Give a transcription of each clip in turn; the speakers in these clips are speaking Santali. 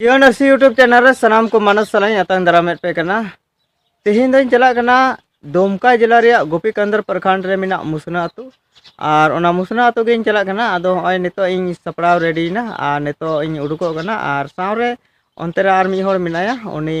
ᱡᱤᱭᱚ ᱱᱟᱨᱥᱤ ᱤᱭᱩᱴᱩᱵᱽ ᱪᱮᱱᱮᱞ ᱨᱮ ᱥᱟᱱᱟᱢ ᱠᱚ ᱢᱟᱱᱚᱥ ᱥᱟᱞᱟᱧ ᱟᱛᱟᱝ ᱫᱟᱨᱟᱢᱮᱫ ᱯᱮ ᱠᱟᱱᱟ ᱛᱮᱦᱮᱧ ᱫᱚᱧ ᱪᱟᱞᱟᱜ ᱠᱟᱱᱟ ᱫᱩᱢᱠᱟ ᱡᱮᱞᱟ ᱨᱮᱭᱟᱜ ᱜᱳᱯᱤᱠᱟᱱᱫᱚᱨ ᱯᱨᱚᱠᱷᱚᱸᱰ ᱨᱮ ᱢᱮᱱᱟᱜ ᱢᱩᱥᱱᱟ ᱟᱹᱛᱩ ᱟᱨ ᱚᱱᱟ ᱢᱩᱥᱱᱟ ᱟᱹᱛᱩ ᱜᱮᱧ ᱪᱟᱞᱟᱜ ᱠᱟᱱᱟ ᱟᱫᱚ ᱦᱚᱸᱜᱼᱚᱭ ᱱᱤᱛᱚᱜ ᱤᱧ ᱥᱟᱯᱲᱟᱣ ᱨᱮᱰᱤᱭᱮᱱᱟ ᱟᱨ ᱱᱤᱛᱚᱜ ᱤᱧ ᱩᱰᱩᱠᱚᱜ ᱠᱟᱱᱟ ᱟᱨ ᱥᱟᱶᱨᱮ ᱚᱱᱛᱮ ᱨᱮ ᱟᱨ ᱢᱤᱫ ᱦᱚᱲ ᱢᱮᱱᱟᱭᱟ ᱩᱱᱤ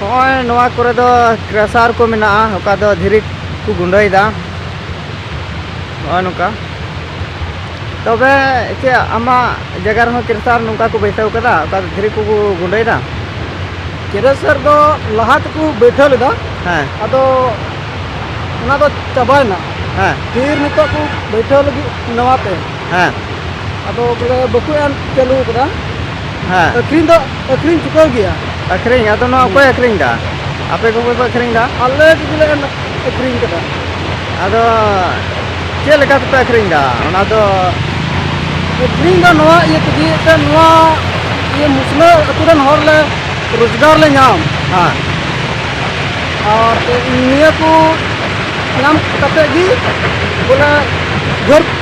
ᱱᱚᱜᱼᱚᱭ ᱱᱚᱣᱟ ᱠᱚᱨᱮ ᱫᱚ ᱠᱨᱮᱥᱟᱨ ᱠᱚ ᱢᱮᱱᱟᱜᱼᱟ ᱚᱠᱟ ᱫᱚ ᱫᱷᱤᱨᱤ ᱠᱚ ᱜᱩᱸᱰᱟᱹᱭᱮᱫᱟ ᱱᱚᱜᱼᱚᱭ ᱱᱚᱝᱠᱟ ᱛᱚᱵᱮ ᱪᱮᱫ ᱟᱢᱟᱜ ᱡᱟᱭᱜᱟ ᱨᱮᱦᱚᱸ ᱠᱨᱮᱥᱟᱨ ᱱᱚᱝᱠᱟ ᱠᱚ ᱵᱟᱹᱭᱥᱟᱹᱣ ᱠᱟᱫᱟ ᱚᱠᱟ ᱫᱚ ᱫᱷᱤᱨᱤ ᱠᱚᱠᱚ ᱜᱩᱸᱰᱟᱹᱭᱮᱫᱟ ᱠᱨᱮᱥᱟᱨ ᱫᱚ ᱞᱟᱦᱟ ᱛᱮᱠᱚ ᱵᱟᱹᱭᱥᱟᱹᱣ ᱞᱮᱫᱟ ᱦᱮᱸ ᱟᱫᱚ ᱚᱱᱟ ᱫᱚ ᱪᱟᱵᱟᱭᱮᱱᱟ ᱦᱮᱸ ᱯᱷᱤᱨ ᱱᱤᱛᱚᱜ ᱠᱚ ᱵᱟᱹᱭᱥᱟᱹᱣ ᱞᱟᱹᱜᱤᱫ ᱱᱟᱣᱟᱛᱮ ᱦᱮᱸ ᱟᱫᱚ ᱵᱚᱞᱮ ᱵᱟᱠᱚ ᱮᱢ ᱪᱟᱹᱞᱩ ᱠᱟᱫᱟ ᱦᱮᱸ ᱟᱹᱠᱷᱨᱤᱧ ᱫᱚ ᱟᱹᱠᱷᱨᱤᱧ ᱪᱩᱠᱟᱹᱣ ᱜᱮᱭᱟ ᱟᱹᱠᱷᱨᱤᱧ ᱟᱫᱚ ᱱᱚᱣᱟ ᱚᱠᱚᱭ ᱟᱹᱠᱷᱨᱤᱧ ᱫᱟ ᱟᱯᱮ ᱠᱚᱜᱮ ᱯᱮ ᱟᱹᱠᱷᱨᱤᱧ ᱫᱟ ᱟᱞᱮ ᱠᱚᱜᱮᱞᱮ ᱟᱹᱠᱷᱨᱤᱧ ᱠᱟᱫᱟ ᱟᱫᱚ ᱪᱮᱫ ᱞᱮᱠᱟ ᱛᱮᱯᱮ ᱟᱹᱠᱷᱨᱤᱧ ᱫᱟ ᱚᱱᱟ ᱫᱚ ᱟᱹᱠᱷᱨᱤᱧ ᱫᱚ ᱱᱚᱣᱟ ᱤᱭᱟᱹ ᱛᱮᱜᱮ ᱛᱮ ᱱᱚᱣᱟ ᱤᱭᱟᱹ ᱢᱩᱥᱞᱟᱹ ᱟᱹᱛᱩ ᱨᱮᱱ ᱦᱚᱲ ᱞᱮ ᱨᱳᱡᱽᱜᱟᱨ ᱞᱮ ᱧᱟᱢ ᱦᱮᱸ ᱟᱨ ᱱᱤᱭᱟᱹ ᱠᱚ ᱧᱟᱢ ᱠᱟᱛᱮ ᱜᱮ ᱵᱚᱞᱮ ᱜᱷᱟᱹᱨ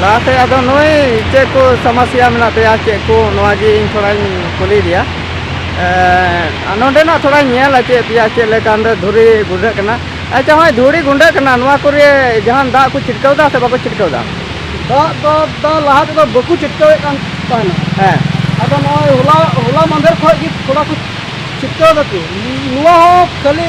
ᱞᱟᱦᱟ ᱥᱮᱫ ᱟᱫᱚ ᱱᱩᱭ ᱪᱮᱫ ᱠᱚ ᱥᱚᱢᱚᱥᱥᱟ ᱢᱮᱱᱟᱜ ᱛᱟᱭᱟ ᱪᱮᱫ ᱠᱚ ᱱᱚᱣᱟ ᱜᱮ ᱤᱧ ᱛᱷᱚᱲᱟᱧ ᱠᱩᱞᱤᱭᱮᱫᱮᱭᱟ ᱟᱨ ᱱᱚᱰᱮᱱᱟᱜ ᱛᱷᱚᱲᱟᱧ ᱧᱮᱞ ᱦᱚᱪᱚᱭᱮᱫ ᱯᱮᱭᱟ ᱪᱮᱫ ᱞᱮᱠᱟ ᱱᱚᱰᱮ ᱫᱷᱩᱲᱤ ᱜᱩᱸᱰᱟᱹᱜ ᱠᱟᱱᱟ ᱟᱪᱪᱷᱟ ᱱᱚᱜᱼᱚᱭ ᱫᱷᱩᱲᱤ ᱜᱩᱸᱰᱟᱹᱜ ᱠᱟᱱᱟ ᱱᱚᱣᱟ ᱠᱚᱨᱮ ᱡᱟᱦᱟᱱ ᱫᱟᱜ ᱠᱚ ᱪᱷᱤᱴᱠᱟᱹᱣ ᱮᱫᱟ ᱥᱮ ᱵᱟᱠᱚ ᱪᱷᱤᱴᱠᱟᱹᱣ ᱮᱫᱟ ᱫᱟᱜ ᱫᱚ ᱫᱟᱜ ᱞᱟᱦᱟ ᱛᱮᱫᱚ ᱵᱟᱠᱚ ᱪᱷᱤᱴᱠᱟᱹᱣᱮᱫ ᱠᱟᱱ ᱛᱟᱦᱮᱱᱟ ᱦᱮᱸ ᱟᱫᱚ ᱱᱚᱜᱼᱚᱭ ᱦᱚᱞᱟ ᱦᱚᱞᱟ ᱢᱟᱫᱷᱮᱨ ᱠᱷᱚᱱ ᱜᱮ ᱛᱷᱚᱲᱟ ᱠᱚ ᱪᱷᱤᱴᱠᱟᱹᱣ ᱫᱟᱠᱚ ᱱᱚᱣᱟ ᱦᱚᱸ ᱠᱷᱟᱹᱞᱤ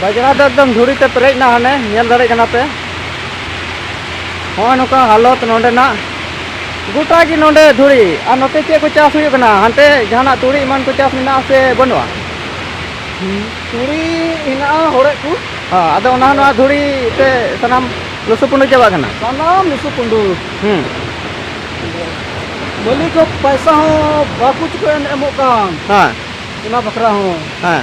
ᱵᱟᱡᱽᱲᱟ ᱫᱚ ᱮᱠᱫᱚᱢ ᱫᱷᱩᱲᱤ ᱛᱮ ᱯᱮᱨᱮᱡ ᱮᱱᱟ ᱦᱟᱱᱮ ᱧᱮᱞ ᱫᱟᱲᱮᱭᱟᱜ ᱠᱟᱱᱟ ᱯᱮ ᱦᱚᱸᱜᱼᱚᱭ ᱱᱚᱝᱠᱟ ᱦᱟᱞᱚᱛ ᱱᱚᱰᱮᱱᱟᱜ ᱜᱚᱴᱟ ᱜᱮ ᱱᱚᱰᱮ ᱫᱷᱩᱲᱤ ᱟᱨ ᱱᱚᱛᱮ ᱪᱮᱫ ᱠᱚ ᱪᱟᱥ ᱦᱩᱭᱩᱜ ᱠᱟᱱᱟ ᱦᱟᱱᱛᱮ ᱡᱟᱦᱟᱱᱟᱜ ᱛᱩᱲᱤ ᱮᱢᱟᱱ ᱠᱚ ᱪᱟᱥ ᱢᱮᱱᱟᱜᱼᱟ ᱥᱮ ᱵᱟᱹᱱᱩᱜᱼᱟ ᱛᱩᱲᱤ ᱦᱮᱱᱟᱜᱼᱟ ᱦᱚᱲᱮᱫ ᱠᱚ ᱦᱚᱸ ᱟᱫᱚ ᱚᱱᱟ ᱱᱚᱣᱟ ᱫᱷᱩᱲᱤ ᱛᱮ ᱥᱟᱱᱟᱢ ᱞᱩᱥᱩ ᱯᱩᱸᱰᱩ ᱪᱟᱵᱟᱜ ᱠᱟᱱᱟ ᱥᱟᱱᱟᱢ ᱞᱩᱥᱩ ᱯᱩᱸᱰᱩ ᱦᱩᱸ ᱢᱟᱹᱞᱤᱠ ᱦᱚᱸ ᱯᱚᱭᱥᱟ ᱦᱚᱸ ᱵᱟᱠᱚ ᱪᱩᱠᱟᱹ ᱮᱢᱚᱜ ᱠᱟᱱ ᱦᱮᱸ ᱚᱱᱟ ᱵᱟᱠᱷᱨᱟ ᱦᱚᱸ ᱦᱮᱸ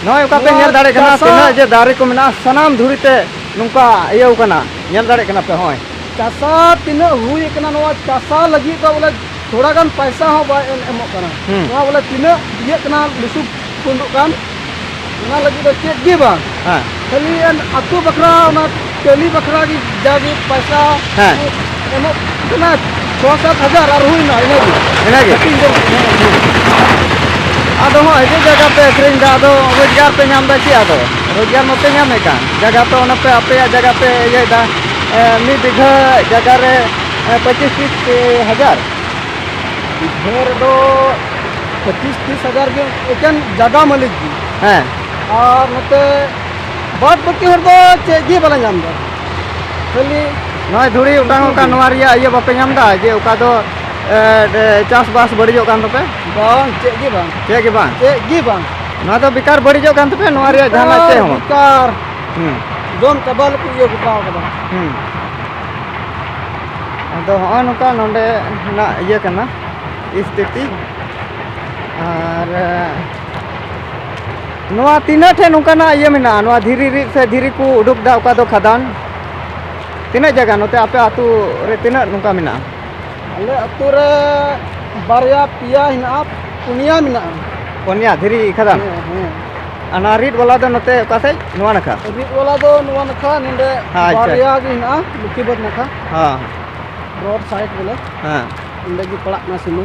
ᱱᱚᱜᱼᱚᱭ ᱚᱠᱟ ᱯᱮ ᱧᱮᱞ ᱫᱟᱲᱮᱭᱟᱜ ᱠᱟᱱᱟ ᱛᱤᱱᱟᱹᱜ ᱡᱮ ᱫᱟᱨᱮ ᱠᱚ ᱢᱮᱱᱟᱜᱼᱟ ᱥᱟᱱᱟᱢ ᱫᱷᱩᱲᱤ ᱛᱮ ᱱᱚᱝᱠᱟ ᱤᱭᱟᱹᱣ ᱠᱟᱱᱟ ᱧᱮᱞ ᱫᱟᱲᱮᱭᱟᱜ ᱠᱟᱱᱟ ᱯᱮ ᱦᱚᱸᱜᱼᱚᱭ ᱪᱟᱥᱟ ᱛᱤᱱᱟᱹᱜ ᱦᱩᱭ ᱠᱟᱱᱟ ᱱᱚᱣᱟ ᱪᱟᱥᱟ ᱞᱟᱹᱜᱤᱫ ᱫᱚ ᱵᱚᱞᱮ ᱛᱷᱚᱲᱟ ᱜᱟᱱ ᱯᱟᱭᱥᱟ ᱦᱚᱸ ᱵᱟᱭ ᱮᱢ ᱮᱢᱚᱜ ᱠᱟᱱᱟ ᱱᱚᱣᱟ ᱵᱚᱞᱮ ᱛᱤᱱᱟᱹᱜ ᱤᱭᱟᱹᱜ ᱠᱟᱱᱟ ᱞᱩᱥᱩᱵ ᱛᱩᱫᱩᱜ ᱠᱟᱱ ᱚᱱᱟ ᱞᱟᱹᱜᱤᱫ ᱫᱚ ᱪᱮᱫ ᱜᱮ ᱵᱟᱝ ᱠᱷᱟᱹᱞᱤ ᱟᱛᱳ ᱵᱟᱠᱷᱨᱟ ᱚᱱᱟ ᱠᱟᱹᱞᱤ ᱵᱟᱠᱷᱨᱟ ᱜᱮ ᱡᱟᱜᱮ ᱯᱚᱭᱥᱟ ᱦᱮᱸ ᱮᱢᱚᱜ ᱠᱟᱱᱟ ᱪᱷᱚ ᱥᱟᱛ ᱦᱟᱡᱟᱨ ᱟᱨ ᱦᱩᱭᱱᱟ ᱤᱱᱟᱹᱜᱮ ᱤᱱᱟᱹᱜᱮ ᱟᱫᱚ ᱦᱚᱸ ᱦᱤᱡᱩᱜ ᱡᱟᱭᱜᱟ ᱯᱮ ᱟᱹᱠᱷᱨᱤᱧ ᱮᱫᱟ ᱟᱫᱚ ᱨᱳᱡᱽᱜᱟᱨ ᱯᱮ ᱧᱟᱢ ᱮᱫᱟ ᱪᱮᱫ ᱟᱫᱚ ᱨᱳᱡᱽᱜᱟᱨ ᱢᱟᱯᱮ ᱧᱟᱢᱮᱫ ᱠᱟᱱ ᱡᱟᱭᱜᱟ ᱯᱮ ᱚᱱᱟ ᱯᱮ ᱟᱯᱮᱭᱟᱜ ᱡᱟᱭᱜᱟ ᱯᱮ ᱤᱭᱟᱹᱭᱮᱫᱟ ᱢᱤᱫ ᱵᱤᱜᱷᱟᱹ ᱡᱟᱭᱜᱟ ᱨᱮ ᱯᱚᱸᱪᱤᱥ ᱛᱤᱥ ᱦᱟᱡᱟᱨ ᱵᱤᱜᱷᱟᱹ ᱨᱮᱫᱚ ᱯᱚᱸᱪᱤᱥ ᱛᱤᱥ ᱦᱟᱡᱟᱨ ᱜᱮ ᱮᱠᱮᱱ ᱡᱟᱭᱜᱟ ᱢᱟᱹᱞᱤᱠ ᱜᱮ ᱦᱮᱸ ᱟᱨ ᱱᱚᱛᱮ ᱵᱟᱫ ᱵᱟᱹᱠᱤ ᱦᱚᱲ ᱫᱚ ᱪᱮᱫ ᱜᱮ ᱵᱟᱞᱮ ᱧᱟᱢ ᱮᱫᱟ ᱠᱷᱟᱹᱞᱤ ᱱᱚᱜᱼᱚᱭ ᱫᱷᱩᱲᱤ ᱚᱴᱟᱝ ᱚᱱᱠᱟ ᱱᱚᱣᱟ ᱨᱮᱭᱟᱜ ᱤᱭᱟᱹ ᱵᱟᱯᱮ ᱧᱟᱢ ᱮᱫᱟ ᱡᱮ ᱚᱠᱟ ᱫᱚ ᱪᱟᱥᱵᱟᱥ ᱵᱟᱹᱲᱤᱡᱚᱜ ᱠᱟᱱ ᱛᱟᱯᱮ ᱵᱟᱝ ᱪᱮᱫ ᱜᱮ ᱵᱟᱝ ᱪᱮᱫ ᱜᱮ ᱵᱟᱝ ᱪᱮᱫ ᱜᱮ ᱵᱟᱝ ᱱᱚᱣᱟ ᱫᱚ ᱵᱮᱠᱟᱨ ᱵᱟᱹᱲᱤᱡᱚᱜ ᱠᱟᱱ ᱛᱟᱯᱮ ᱱᱚᱣᱟ ᱨᱮᱭᱟᱜ ᱡᱟᱦᱟᱱᱟᱜ ᱪᱮᱫ ᱦᱚᱸ ᱵᱮᱠᱟᱨ ᱡᱚᱢ ᱪᱟᱵᱟ ᱞᱮᱠᱚ ᱤᱭᱟᱹ ᱜᱚᱴᱟᱣ ᱠᱟᱫᱟ ᱟᱫᱚ ᱦᱚᱸᱜᱼᱚᱭ ᱱᱚᱝᱠᱟ ᱱᱚᱰᱮ ᱨᱮᱱᱟᱜ ᱤᱭᱟᱹ ᱠᱟᱱᱟ ᱥᱛᱷᱤᱛᱤ ᱟᱨ ᱱᱚᱣᱟ ᱛᱤᱱᱟᱹᱜ ᱴᱷᱮᱱ ᱱᱚᱝᱠᱟᱱᱟᱜ ᱤᱭᱟᱹ ᱢᱮᱱᱟᱜᱼᱟ ᱱᱚᱣᱟ ᱫᱷᱤᱨᱤ ᱨᱤᱫ ᱥᱮ ᱫᱷᱤᱨᱤ ᱠᱚ ᱩᱰᱩᱠ ᱫᱟ ᱚᱠᱟ ᱫᱚ ᱠᱷᱟᱫᱟᱱ ᱛᱤᱱᱟᱹᱜ ᱡᱟᱭᱜᱟ ᱱᱚᱛᱮ ᱟᱯᱮ ᱟᱹᱛᱩ ᱨᱮ ᱛᱤᱱᱟᱹᱜ ᱱᱚᱝᱠᱟ ᱢᱮᱱᱟᱜᱼᱟ ᱟᱞᱮ ᱟᱹᱛᱩ ᱨᱮ ᱵᱟᱨᱭᱟ ᱯᱮᱭᱟ ᱦᱮᱱᱟᱜᱼᱟ ᱯᱩᱱᱭᱟ ᱢᱮᱱᱟᱜᱼᱟ ᱯᱚᱱᱭᱟ ᱫᱷᱤᱨᱤ ᱠᱷᱟᱫᱟᱱ ᱦᱮᱸ ᱦᱮᱸ ᱟᱨ ᱱᱚᱣᱟ ᱨᱤᱫ ᱵᱟᱞᱟ ᱫᱚ ᱱᱚᱛᱮ ᱚᱠᱟ ᱥᱮᱡ ᱱᱚᱣᱟ ᱱᱟᱠᱷᱟ ᱨᱤᱫ ᱵᱟᱞᱟ ᱫᱚ ᱱᱚᱣᱟ ᱱᱟᱠᱷᱟ ᱱᱚᱰᱮ ᱟᱪᱪᱷᱟ᱾ ᱵᱟᱨᱭᱟ ᱜᱮ ᱦᱮᱱᱟᱜᱼᱟ ᱞᱩᱠᱤᱵᱟᱹᱫᱽ ᱱᱟᱠᱷᱟ ᱦᱮᱸ ᱨᱳᱰ ᱥᱟᱭᱤᱰ ᱵᱚᱞᱮ ᱦᱮᱸ ᱚᱸᱰᱮ ᱜᱮ ᱯᱟᱲᱟᱜ ᱠᱟᱱᱟ ᱥᱤᱢᱟᱹ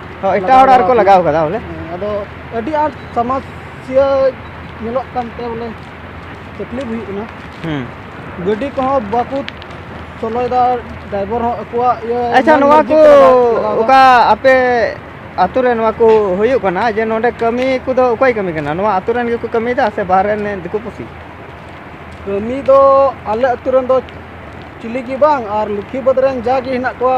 ᱦᱚᱸ ᱮᱴᱟᱜ ᱦᱚᱲ ᱟᱨᱠᱚ ᱞᱟᱜᱟᱣ ᱠᱟᱫᱟ ᱵᱚᱞᱮ ᱟᱫᱚ ᱟᱹᱰᱤ ᱟᱸᱴ ᱥᱟᱢᱟᱥᱤᱭᱟᱹ ᱧᱮᱞᱚᱜ ᱠᱟᱱᱛᱮ ᱵᱚᱞᱮ ᱛᱟᱠᱞᱤᱯ ᱦᱩᱭᱩᱜ ᱠᱟᱱᱟ ᱦᱩᱸ ᱜᱟᱹᱰᱤ ᱠᱚᱦᱚᱸ ᱵᱟᱠᱚ ᱥᱚᱞᱚᱭᱮᱫᱟ ᱰᱨᱟᱭᱵᱷᱟᱨ ᱦᱚᱸ ᱟᱠᱚᱣᱟᱜ ᱤᱭᱟᱹ ᱟᱪᱪᱷᱟ ᱢᱚᱱ ᱱᱚᱣᱟ ᱢᱚᱨᱡᱤ ᱠᱚ ᱛᱮ ᱞᱟᱜᱟᱣ- ᱞᱟᱜᱟᱣ ᱫᱟ᱾ ᱚᱠᱟ ᱟᱯᱮ ᱟᱛᱳ ᱨᱮ ᱱᱚᱣᱟ ᱠᱚ ᱦᱩᱭᱩᱜ ᱠᱟᱱᱟ ᱡᱮ ᱱᱚᱰᱮ ᱠᱟᱹᱢᱤ ᱠᱚᱫᱚ ᱚᱠᱚᱭ ᱠᱟᱹᱢᱤ ᱠᱟᱱᱟ ᱱᱚᱣᱟ ᱟᱛᱳ ᱨᱮᱱ ᱜᱮᱠᱚ ᱠᱟᱹᱢᱤᱭᱮᱫᱟ ᱥᱮ ᱵᱟᱦᱨᱮ ᱨᱮᱱ ᱫᱤᱠᱩ ᱯᱩᱥᱤ ᱠᱟᱹᱢᱤ ᱫᱚ ᱟᱞᱮ ᱟᱹᱛᱩ ᱨᱮᱱ ᱫᱚ ᱪᱤᱞᱤ ᱜᱮ ᱵᱟᱝ ᱟᱨ ᱞᱚᱠᱠᱷᱤ ᱵᱟᱹᱫᱽ ᱨᱮᱱ ᱡᱟᱜᱮ ᱦᱮᱱᱟᱜ ᱠᱚᱣᱟ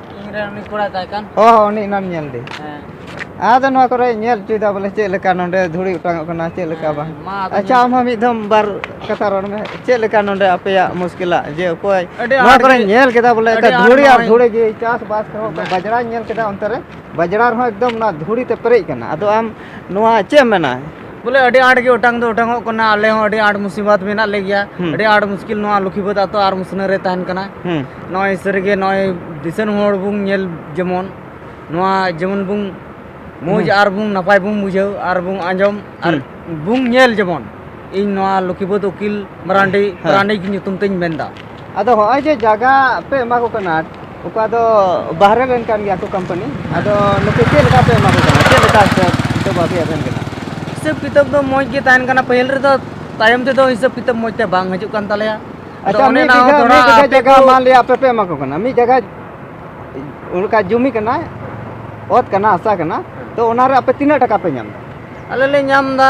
ᱚ ᱩᱱᱤ ᱮᱱᱟᱢ ᱧᱮᱞ ᱫᱮ ᱟᱫᱚ ᱱᱚᱣᱟ ᱠᱚᱨᱮ ᱧᱮᱞ ᱦᱚᱪᱚᱭᱮᱫᱟ ᱵᱚᱞᱮ ᱪᱮᱫ ᱞᱮᱠᱟ ᱱᱚᱰᱮ ᱫᱷᱩᱲᱤ ᱚᱴᱟᱝᱚᱜ ᱠᱟᱱᱟ ᱪᱮᱫ ᱞᱮᱠᱟ ᱵᱟᱝ ᱟᱪᱪᱷᱟ ᱟᱢ ᱦᱚᱸ ᱢᱤᱫ ᱫᱷᱚᱢ ᱵᱟᱨ ᱠᱟᱛᱷᱟ ᱨᱚᱲ ᱢᱮ ᱪᱮᱫ ᱞᱮᱠᱟ ᱱᱚᱰᱮ ᱟᱯᱮᱭᱟᱜ ᱢᱩᱥᱠᱤᱞᱟᱜ ᱡᱮ ᱚᱠᱚᱭ ᱱᱚᱣᱟ ᱠᱚᱨᱮ ᱧᱮᱞ ᱠᱮᱫᱟ ᱵᱚᱞᱮ ᱫᱷᱩᱲᱤ ᱟᱨ ᱫᱷᱩᱲᱤ ᱜᱮ ᱪᱟᱥᱵᱟᱥ ᱨᱮᱦᱚᱸ ᱵᱟᱡᱽᱲᱟᱧ ᱧᱮᱞ ᱠᱮᱫᱟ ᱚᱱᱛᱮ ᱨᱮ ᱵᱟᱡᱽᱲᱟ ᱨᱮᱦᱚᱸ ᱮᱠᱫᱚᱢ ᱚᱱᱟ ᱫᱷᱩᱲᱤ ᱛᱮ ᱯᱮᱨᱮᱡ ᱠᱟᱱᱟ ᱟᱫᱚ ᱟᱢ ᱱᱚᱣᱟ ᱪᱮᱫ ᱮᱢ ᱢᱮᱱᱟ ᱵᱚᱞᱮ ᱟᱹᱰᱤ ᱟᱸᱴ ᱜᱮ ᱚᱴᱟᱝ ᱫᱚ ᱚᱴᱟᱝᱚᱜ ᱠᱟᱱᱟ ᱟᱞᱮ ᱦᱚᱸ ᱟᱹᱰᱤ ᱟᱸᱴ ᱢᱩᱥᱤᱵᱟᱛ ᱢᱮᱱᱟᱜ ᱞᱮ ᱜᱮᱭᱟ ᱦᱩᱸ᱾ ᱟᱹᱰᱤ ᱟᱸᱴ ᱢᱩᱥᱠᱤᱞ ᱱᱚᱣᱟ ᱞᱩᱠᱷᱤᱵᱟᱹᱫ ᱟᱛᱚ ᱟᱨ ᱢᱩᱥᱱᱟᱹ ᱨᱮ ᱛᱟᱦᱮᱱ ᱠᱟᱱᱟ ᱦᱩᱸ ᱱᱚᱜᱼᱚᱭ ᱥᱟᱹᱨᱤᱜᱮ ᱱᱚᱜᱼᱚᱭ ᱫᱤᱥᱚᱢ ᱦᱚᱲ ᱵᱚᱱ ᱧᱮᱞ ᱡᱮᱢᱚᱱ ᱱᱚᱣᱟ ᱡᱮᱢᱚᱱ ᱵᱚᱱ ᱢᱚᱡᱽ ᱟᱨ ᱵᱚᱱ ᱱᱟᱯᱟᱭ ᱵᱚᱱ ᱵᱩᱡᱷᱟᱹᱣ ᱟᱨ ᱵᱚᱱ ᱟᱸᱡᱚᱢ ᱟᱨ ᱵᱚᱱ ᱧᱮᱞ ᱡᱮᱢᱚᱱ ᱤᱧ ᱱᱚᱣᱟ ᱞᱩᱠᱷᱤᱵᱟᱹᱫ ᱩᱠᱤᱞ ᱢᱟᱨᱟᱱᱰᱤ ᱦᱮᱸ᱾ ᱯᱟᱨᱟᱱᱤᱠ ᱧᱩᱛᱩᱢ ᱛᱤᱧ ᱢᱮᱱᱫᱟ ᱟᱫᱚ ᱦᱚᱸᱜᱼᱚᱭ ᱡᱮ ᱡᱟᱭᱜᱟ ᱯᱮ ᱮᱢᱟ ᱠᱚ ᱠᱟᱱᱟ ᱚᱠᱟ ᱫᱚ ᱵᱟᱦᱨᱮ ᱨᱮᱱ ᱠᱟᱱ ᱜᱮᱭᱟ ᱠᱚ ᱠᱳᱢᱯᱟᱱᱤ ᱟᱫᱚ ᱱᱩᱠᱩ ᱪᱮᱫ ᱞᱮᱠᱟ ᱯᱮ ᱮᱢᱟ ᱠᱚ ᱠᱟᱱᱟ ᱪᱮᱫ ᱞᱮᱠᱟ ᱦᱤᱥᱟᱹᱵ ᱠᱤᱛᱟᱹᱵ ᱟᱯᱮᱭᱟᱜ ᱛᱟᱦᱮᱱ ᱠᱟᱱᱟ ᱦᱤᱥᱟᱹᱵ ᱠᱤᱛᱟᱹᱵ ᱫᱚ ᱢᱚᱡᱽ ᱜᱮ ᱛᱟᱦᱮᱱ ᱠᱟᱱᱟ ᱯᱟᱹᱦᱤᱞ ᱨᱮᱫᱚ ᱛᱟᱭᱚᱢ ᱛᱮᱫᱚ ᱦᱤᱥᱟᱹᱵ ᱠᱤᱛᱟᱹᱵ ᱢᱚᱡᱽ ᱛᱮ ᱵᱟᱝ ᱦᱤᱡᱩᱜ ᱠᱟᱱ ᱛᱟᱞᱮᱭᱟ ᱟᱫᱚ ᱟᱪᱪᱷᱟ ᱚᱱᱮ ᱢᱤᱫ ᱚᱱᱟ ᱦᱚᱸ ᱵᱤᱜᱷᱟᱹ ᱛᱷᱚᱲᱟ ᱢᱤᱫ ᱵᱤᱜᱷᱟᱹ ᱟᱯᱮ ᱡᱟᱭᱜᱟ ᱠᱚ- ᱢᱟᱱ ᱞᱤᱭᱟ ᱟᱯᱮ ᱯᱮ ᱮᱢᱟ ᱠᱚ ᱠᱟᱱᱟ ᱢᱤᱫ ᱡᱟᱭᱜᱟ ᱚᱱᱠᱟ ᱡᱩᱢᱤ ᱠᱟᱱᱟ ᱚᱛ ᱠᱟᱱᱟ ᱦᱟᱥᱟ ᱠᱟᱱᱟ ᱛᱚ ᱚᱱᱟᱨᱮ ᱟᱯᱮ ᱛᱤᱱᱟᱹᱜ ᱴᱟᱠᱟ ᱯᱮ ᱧᱟᱢ ᱮᱫᱟ ᱟᱞᱮ ᱞᱮ ᱧᱟᱢ ᱮᱫᱟ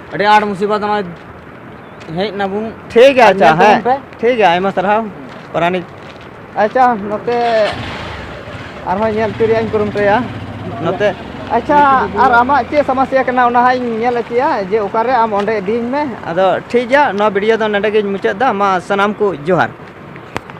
ᱟᱹᱰᱤ ᱟᱸᱴ ᱢᱩᱥᱤᱵᱟᱛ ᱱᱚᱜᱼᱚᱭ ᱦᱮᱡ ᱱᱟᱵᱚᱱ ᱴᱷᱤᱠ ᱜᱮᱭᱟ ᱟᱪᱪᱷᱟ ᱦᱮᱸ ᱴᱷᱤᱠ ᱜᱮᱭᱟ ᱟᱭᱢᱟ ᱥᱟᱨᱦᱟᱣ ᱯᱟᱨᱟᱱᱤᱠ ᱟᱪᱪᱷᱟ ᱱᱚᱛᱮ ᱟᱨᱦᱚᱸ ᱧᱮᱞ ᱦᱚᱪᱚ ᱨᱮᱭᱟᱜ ᱤᱧ ᱠᱩᱨᱩᱢᱩᱴᱩᱭᱟ ᱱᱚᱛᱮ ᱟᱪᱪᱷᱟ ᱟᱨ ᱟᱢᱟᱜ ᱪᱮᱫ ᱥᱚᱢᱚᱥᱥᱟ ᱠᱟᱱᱟ ᱚᱱᱟ ᱦᱟᱸᱜ ᱤᱧ ᱧᱮᱞ ᱦᱚᱪᱚᱭᱟ ᱡᱮ ᱚᱠᱟᱨᱮ ᱟᱢ ᱚᱸᱰᱮ ᱤᱫᱤᱧ ᱢᱮ ᱟᱫᱚ ᱴᱷᱤᱠ ᱜᱮᱭᱟ ᱱᱚᱣᱟ ᱵᱷᱤᱰᱤᱭᱳ ᱫᱚ ᱱᱚᱸᱰᱮ ᱜᱤᱧ ᱢᱩᱪᱟᱹᱫ ᱮᱫᱟ ᱢᱟ ᱥᱟᱱᱟᱢ ᱠᱚ ᱡᱚᱦᱟᱨ